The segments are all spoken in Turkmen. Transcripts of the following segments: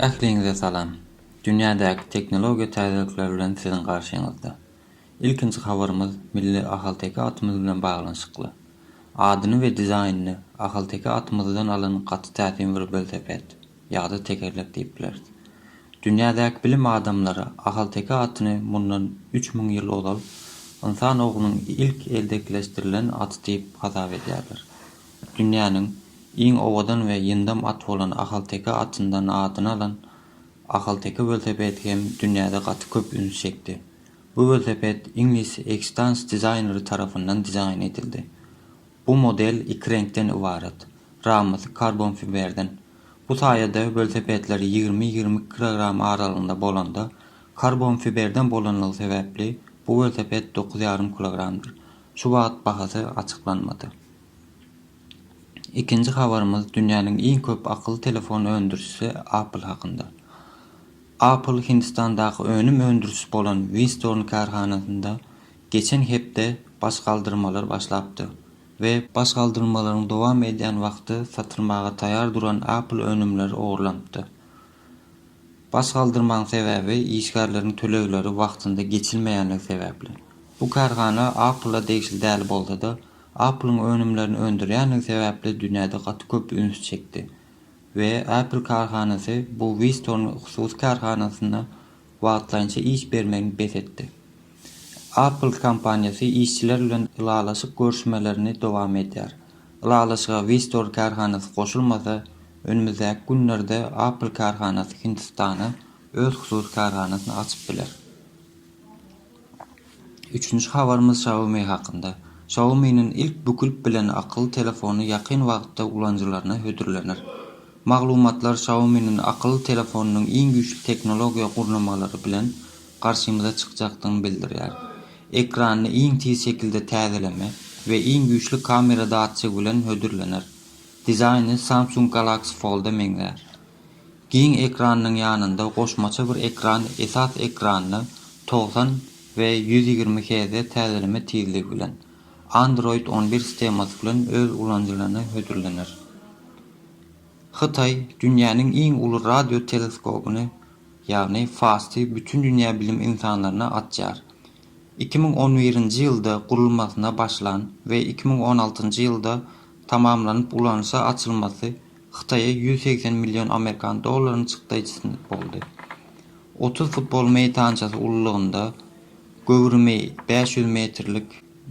Ähliňize salam! Dünýädäki tehnologiýa täzelikleri bilen siziň garşyňyzda. Ilkinji habarymyz milli ahalteke atymyz bilen baglanyşykly. Adyny we dizaýnyny ahalteke atymyzdan alan gaty täsin bir welosiped. ýa-da tekerlek diýip bileris. Dünýädäki bilim adamlary ahalteke atyny mundan üç müň ýyl ozal ynsan oglunyň ilk eldekileşdirilen aty diýip hasap edýärler. Dünýäniň iň owadan we ýyndam at bolan ahalteke atyndan adyny alan ahalteke welosipedi hem dünýäde gaty köp üns çekdi. Bu welosiped iňlis Extans dizaýneri tarapyndan dizaýn edildi. Bu model iki reňkden ybarat. Ramasy karbonfiberden. Bu saýada welosipedler ýigrimi-ýigrimi iki kilogram aralygynda bolanda, karbonfiberden bolanlygy sebäpli bu welosiped dokuz ýarym kilogramdyr. Şu wagt bahasy açyklanmady. Ikinji habarymyz dünýäniň iň köp akylly telefon öndürijisi Apple hakynda. Apple Hindistandaky önüm öndürijisi bolan Winstorn kärhanasynda Geçen hepde baş galdyrmalar başlapdy we baş galdyrmalaryň dowam edýän wagty satylmaga taýar duran Apple önümleri ogurlanypdy. Baş galdyrmaň sebäbi işgärleriň tölegleri wagtynda geçilmeýänligi sebäpli. Bu kärhana Apple-a degişli däl bolsa-da, Apple-yň önümlerini öndürýänligi sebäpli dünýäde gaty köp üns çekdi we Apple kärhanasy bu Whistorn hususy kärhanasyna wagtlaýynça iş bermegini bes etdi. Apple kompaniýasy işçiler bilen ylalaşyk görüşmelerini dowam edýär. Ylalaşyga Vistor kärhanasy goşulmasa, önümizdäki günlerde Apple kärhanasy Hindistana öz hususy kärhanasyny açyp biler. Üçünji habarymyz Xiaomi hakynda. Xiaomi-niň ilk bükülip bilen akylly telefony ýakyn wagtda ulanyjylaryna hödürlener. Maglumatlar Xiaomi-niň akylly telefonynyň iň güýçli tehnologiýa gurnamalary bilen garşymyza çykjakdygyny bildirýär. Ekranyny iň tiz şekilde täzeleme we iň güýçli kamera datçigi bilen hödürlener. Dizaýny Samsung Galaxy Fold-a meňzär. Giň ekranynyň ýanynda goşmaça bir ekran esas ekranyny togsan we ýüz ýigrimi Hz täzeleme tizligi bilen, Android on bir sistemasy bilen öz ulanyjylaryna hödürlener. Hytaý dünýäniň iň uly radio teleskobyny, ýagny FAST-y bütin dünýä bilim insanlaryna açýar. Iki müň on birinji ýylda gurulmasyna başlan we iki müň on altynjy ýylda tamamlanyp ulanyşa açylmasy Hytaýa ýüz segsen million amerikan dollaryny çykdaý çyznyp boldy. Otuz futbol meýdançasy ululygynda göwrümi bäş ýüz metrlik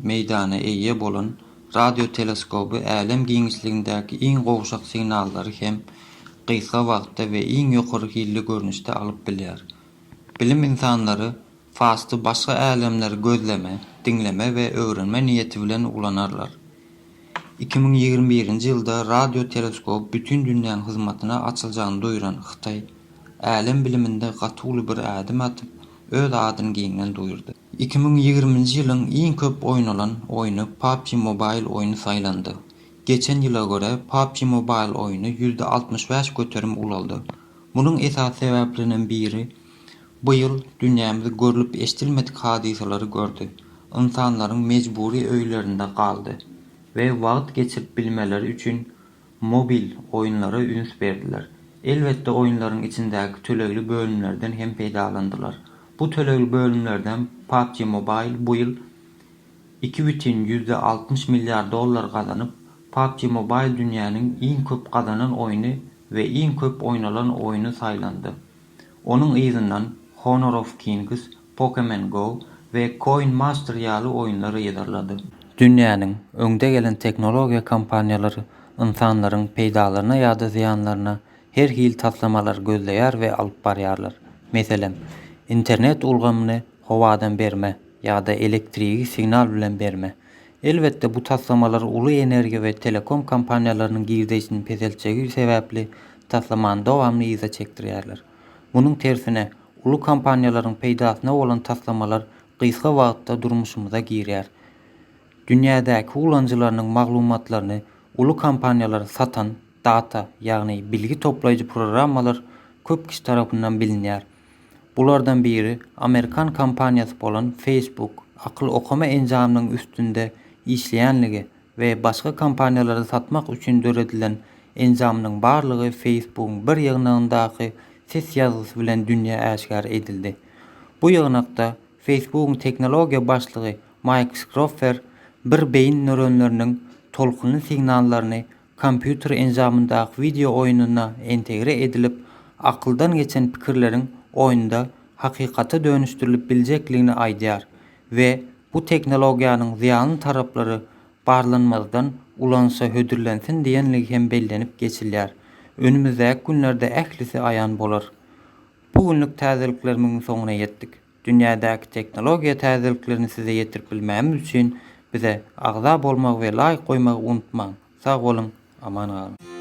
meýdana eýe bolan radioteleskoby älem giňişligindäki iň gowşak signallary hem gysga wagtda we iň ýokary hilli görnüşde alyp bilýär. Bilim ynsanlary Fasty başga älemler gözleme, diňleme we öwrenme niýeti bilen ulanarlar. Iki müň ýigrimi birinji ýylda radio teleskop bütin dünýäň hyzmatyna açyljagyny duýran Hytaý, älem biliminde gaty uly bir ädim atyp, öz adyny giňden duýurdy. Iki müň ýigriminji ýylyň iň köp oýnalan oýny PUBG Mobile oýny saýlandy. Geçen ýyla görä, PUBG Mobile oýny ýüzde altmyş bäş göterim ulaldy. Munuň esasy sebäpleriniň biri, Bu ýyl dünýämiz görlüp-eşdilmedik hadysalary gördi. Ynsanlaryň mejbury öýlerinde galdy we wagt geçirip bilmeleri üçin mobil oýunlara üns berdiler. Elbetde oýunlaryň içindäki tölegli bölümlerden hem peýdalandylar. Bu tölegli bölümlerden PUBG Mobile bu ýyl iki bütin ýüzde altmyş milliard dollar gazanyp, PUBG Mobile dünýäniň iň köp gazanan oýny we iň köp oýnalan oýny saýlandy. Onuň yzyndan Honor of Kings, Pokemen Go we Coin Master ýaly oýunlar yzarlady. Dünýäniň öňde gelen tehnologiýa kompaniýalary ynsanlaryň peýdalaryna ýa-da zyýanlaryna her hili taslamalary gözleýär we alyp barýarlar. Meselem, internet ulgamyny howadan berme ýa-da elektrigi signal bilen berme, Elbetde, bu taslamalar uly energiýa we telekom kompaniýalarynyň girdeýsini peseltjegi sebäpli taslamany dowamly yza çekdirýärler. Munuň tersine, uly kompaniýalaryň peýdasyna bolan taslamalar gysga wagtda durmuşymyza girýär. Dünýädäki ulanyjylarynyň maglumatlaryny uly kompaniýalar satan, data, ýagny bilgi toplaýjy programmalar köp kişi tarapyndan bilinýär. Bulardan biri amerikan kompaniýasy bolan Facebook akyl okama enjamynyň üstünde işleýänligi we başga kompaniýalara satmak üçin döredilen enjamynyň barlygy Facebookyň bir ýygnagyndaky ses ýazgysy bilen dünýä äşgär edildi. Bu ýygnakda Facebookyň tehnologiýa başlygy Maýk Skroffer bir beýin nöronleriniň tolkunly signallaryny Kompýuter enjamyndaky wideo oýnuna integre edilip, akyldan geçen pikirleriň oýunda hakykata dönüşdirilip biljekligini aýdýar we bu tehnologiýanyň zyýanly taraplary barlanmazdan ulanyşa hödürlensin diýenligi hem bellenip geçilýär. Önümizdäki günlerde ählisi aýan bolar. Bu günlük täzeliklerimiň soňuna ýetdik. Dünýädäki tehnologiýa täzeliklerini size ýetirip bilmämiz üçin bize agza bolmagy we laýk goýmagy unutmaň! Sag boluň, aman galyň!